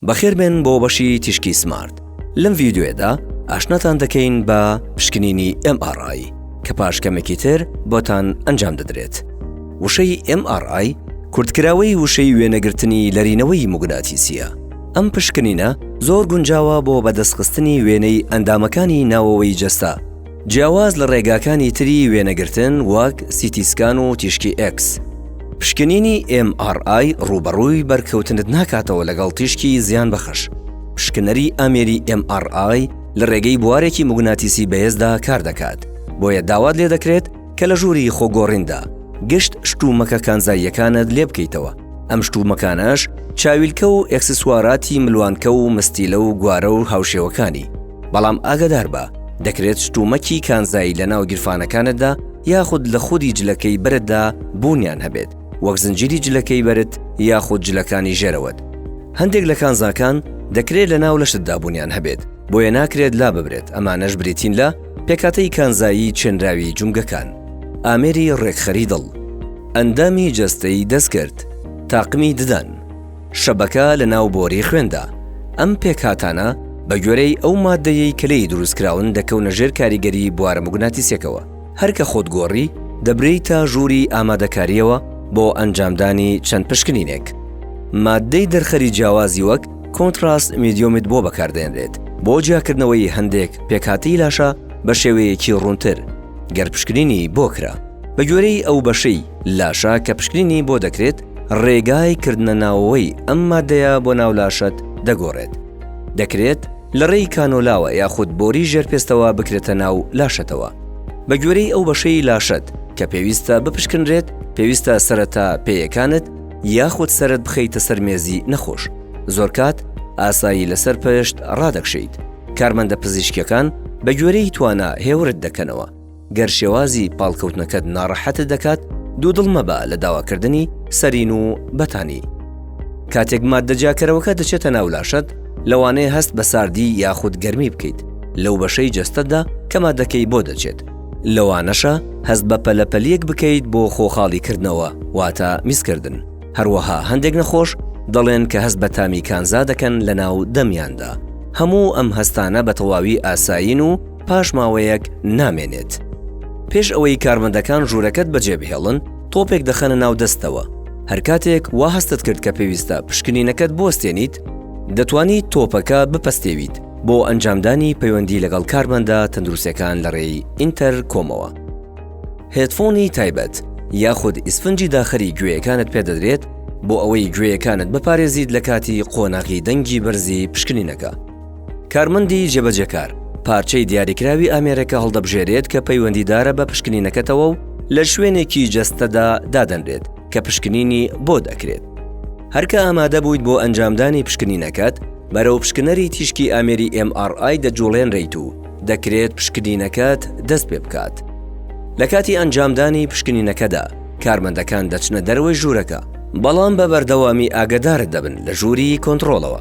بەخێربێن بۆ بەشی تیشکی سمارت لەم ڤیددیوێدا ئاشناتان دەکەین بە پشکنینی MRI کە پاش کەمێکی تر بۆتان ئەنجام دەدرێت وشەی MRI کورتکراوەی وشەی وێنەگرتنی لەرینەوەی موگناتیسیە ئەم پشکنینە زۆر گونجاوە بۆ بەدەستخستنی وێنەی ئەندامەکانی ناوەوەی جەستە جیاواز لە ڕێگاکانی تری وێنەگرتن وەک سیتی سکان و تیشکی ئێکس، پشکنینی MRI ڕووبەڕووی بەرکەوتنت ناکاتەوە لەگەڵ تیشکی زیانبەخش. پشکنەری ئامێری MRI لە ڕێگەی بوارێکی موگناتیسی بەهێزدا کاردەکات، بۆیە داوات لێدەکرێت کە لە ژووری خۆگۆڕیندا گشت شتومەکە کانزاییەکانت لێبکەیتەوە، ئەم شتومەکانەش چاویلکە و ئێکسسواراتی ملوانکە و مستیلە و گوارە و هاوشێوەکانی. بەڵام ئاگەداربە دەکرێت شتومەکی کانزایی لە ناو گیرفانەکانتدا یاخود لە خودی جلەکەی بەرتدا بوونیان هەبێت وەک زنجیری جلەکەی بەرت یاخود جلەکانی ژێرەوەت هەندێک لە کانزاکان دەکرێت لە ناو لەشتدا بوونیان هەبێت بۆیە ناکرێت لا ببرێت ئەمانەش بریتین لە پێکاتەی کانزایی چێنراوی جومگەکان ئامێری ڕێکخەری دڵ ئەندامی جەستەی دەستکرد تاقمی ددان شەبەکە لە ناو بۆری خوێندا. ئەم پێکهاتانە بە گوێرەی ئەو ماددەیەی کە لێی دروست کراون دەکەونە ژێر کاریگەری بوارە موگناتیسیەکەوە. هەر کە خۆت گۆڕی دەبرێیتە ژووری ئامادەکاریەوە بۆ ئەنجامدانی چەند پشکنینێک. ماددەی دەرخەری جیاوازی وەک کۆنتڕاست میدیۆمت بۆ بەکاردێنرێت بۆ جیاکردنەوەی هەندێک پێکهاتەی لاشە بە شێوەیەکی ڕوونتر گەر پشکنینی بۆ کرا. بە گوێرەی ئەو بەشەی لاشە کە پشکنینی بۆ دەکرێت، ڕێگای کردنەناوەوەی ئەم ماددەیە بۆ ناو لاشەت دەگۆڕێت، دەکرێت لە ڕێی کانۆلاوە یاخود بۆری ژێرپێستەوە بکرێتە ناو لاشەتەوە. بە گوێرەی ئەو بەشەی لاشەت کە پێویستە بپشکنرێت، پێویستە سەرەتا پێیەکانت یاخود سەرت بخەیتە سەر مێزی نەخۆش، زۆرکات ئاسایی لەسەر پشت ڕادەکشێیت، کارمەندە پزیشکیەکان بە گوێرەی توانا هێورت دەکەنەوە. گەر شێوازی پاڵکەوتنەکەت ناڕەحەتت دەکات، دوودڵ مەبە لە داواکردنی سەرین و بەتانی. کاتێک ماددە جیاکەرەوەکە دەچێتە ناو لاشەت، لەوانەیە هەست بە ساردی یاخود گەرمی بکەیت لەو بەشەی جەستەتدا کە ماددەکەی بۆ دەچێت، لەوانەشە هەست بە پەلەپەلیەک بکەیت بۆ خۆخاڵیکردنەوە، واتە میزکردن. هەروەها هەندێک نەخۆش دەڵێن کە هەست بە تامی کانزا دەکەن لەناو دەمیاندا. هەموو ئەم هەستانە بەتەواوی ئاسایین و پاش ماوەیەک نامێنێت. پێش ئەوەی کارمەندەکان ژوورەکەت بەجێبهێڵن، تۆپێک دەخەنە ناو دەستتەوە. هەرکاتێک وا هەستت کرد کە پێویستە پشکنینەکەت بوەستێنیت، دەتوانیت تۆپەکە بپەستێویت بۆ ئەنجامدانی پەیوەندی لەگەڵ کارمەندە تەندروستەکان لە ڕێی ئینتەرکۆمەوە. هێدفۆنی تایبەت یاخود ئیسفنجی داخەری گوێیەکانت پێدەدرێت بۆ ئەوەی گوێیەکانت بپارێزیت لە کاتی قۆناغی دەنگی بەرزی پشکنینەکە. کارمەندی جێبەجێکار پارچەی دیاریکراوی ئامێرەکە هەڵدەبژێرێت کە پەیوەندیدارە بە پشکنینەکەتەوە و لە شوێنێکی جەستەدا دادەنرێت کە پشکنینی بۆ دەکرێت هەرکە ئامادە بوویت بۆ ئەنجامدانی پشکنینەکەت بەرەو پشکنەری تیشکی ئامێری MRI دەجوڵێنریت و دەکرێت پشکنینەکەت دەست پێ بکات لە کاتی ئەنجامدانی پشکنینەکەدا کارمەندەکان دەچنە دەروەی ژوورەکە بەڵام بە بەردەوامی ئاگدارت دەبن لە ژووری کۆنتترۆڵەوە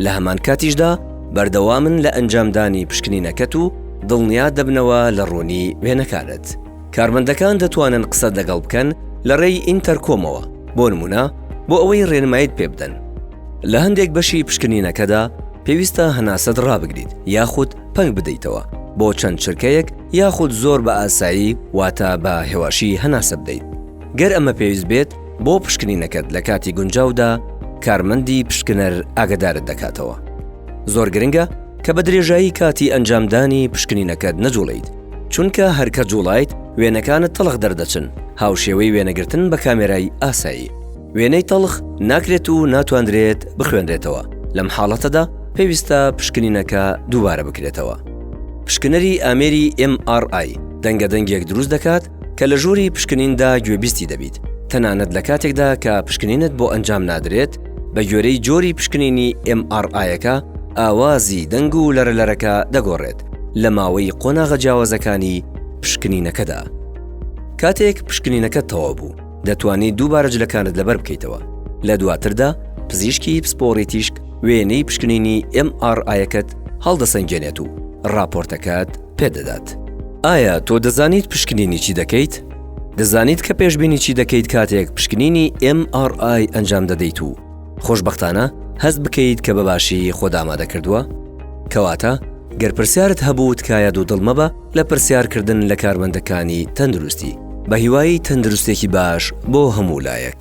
لە هەمان کاتیشدا بەردەوامن لە ئەنجامدانی پشکنینەکەت و دڵنیا دەبنەوە لە ڕوونی وێنەکانت. کارمەندەکان دەتوانن قسەت لەگەڵ بکەن لە ڕێی ئینتەرکۆمەوە، بۆ نموونە بۆ ئەوەی ڕێنماییت پێ بدەن. لە هەندێک بەشی پشکنینەکەدا پێویستە هەناسەت ڕابگریت یاخود پەنگ بدەیتەوە بۆ چەند چرکەیەک یاخود زۆر بە ئاسایی واتە بە هێواشی هەناسە بدەیت. گەر ئەمە پێویست بێت بۆ پشکنینەکەت لە کاتی گونجاودا کارمەندی پشکنەر ئاگدارت دەکاتەوە زۆر گرنگە کە بە درێژایی کاتی ئەنجامدانی پشکنینەکەت نەجوڵیت چونکە هەرکە جوڵایت وێنەکانت تەڵخ دەردەچن هاوشێوەی وێنەگرتن بە کامێرای ئاسایی وێنەی تەڵخ ناکرێت و ناتواندرێت بخوێنرێتەوە لەم حاڵەتەدا پێویستە پشکنینەکە دووبارە بکرێتەوە پشکنەری ئامێری MRI دەنگە دەنگێک دروست دەکات کە لە ژووری پشکنیندا گوێبیستی دەبیت، تەنانەت لە کاتێکدا کە پشکنینت بۆ ئەنجام نادرێت، بە گوێرەی جۆری پشکنینی MRI ەکە، ئاوازی دەنگ و لەرەلەرەکە دەگۆڕێت لە ماوەی قۆناغە جیاوازەکانی پشکنینەکەدا. کاتێک پشکنینەکەت تەواو بوو. دەتوانیت دووبارە جلەکانت لەبەر بکەیتەوە. لە دواتردا پزیشکی پسپۆڕی تیشک وێنەی پشکنینی MRI ەکەت هەڵدەسەنگێنێت و ڕاپۆرتەکەت پێدەدات. ئایا تۆ دەزانیت پشکنینی چی دەکەیت؟ دەزانیت کە پێشبینی چی دەکەیت کاتێک پشکنینی MRI ئەنجام دەدەیت و خۆشبەختانە هەست بکەیت کە بە باشی خۆت ئامادەکردووە؟ کەواتە گەر پرسیارت هەبوو تکایە دوودڵ مەبە، لە پرسیار کردن لە کارمەندەکانی تەندروستی. بە هیوای تەندروستێکی باش بۆ هەموو لایەک.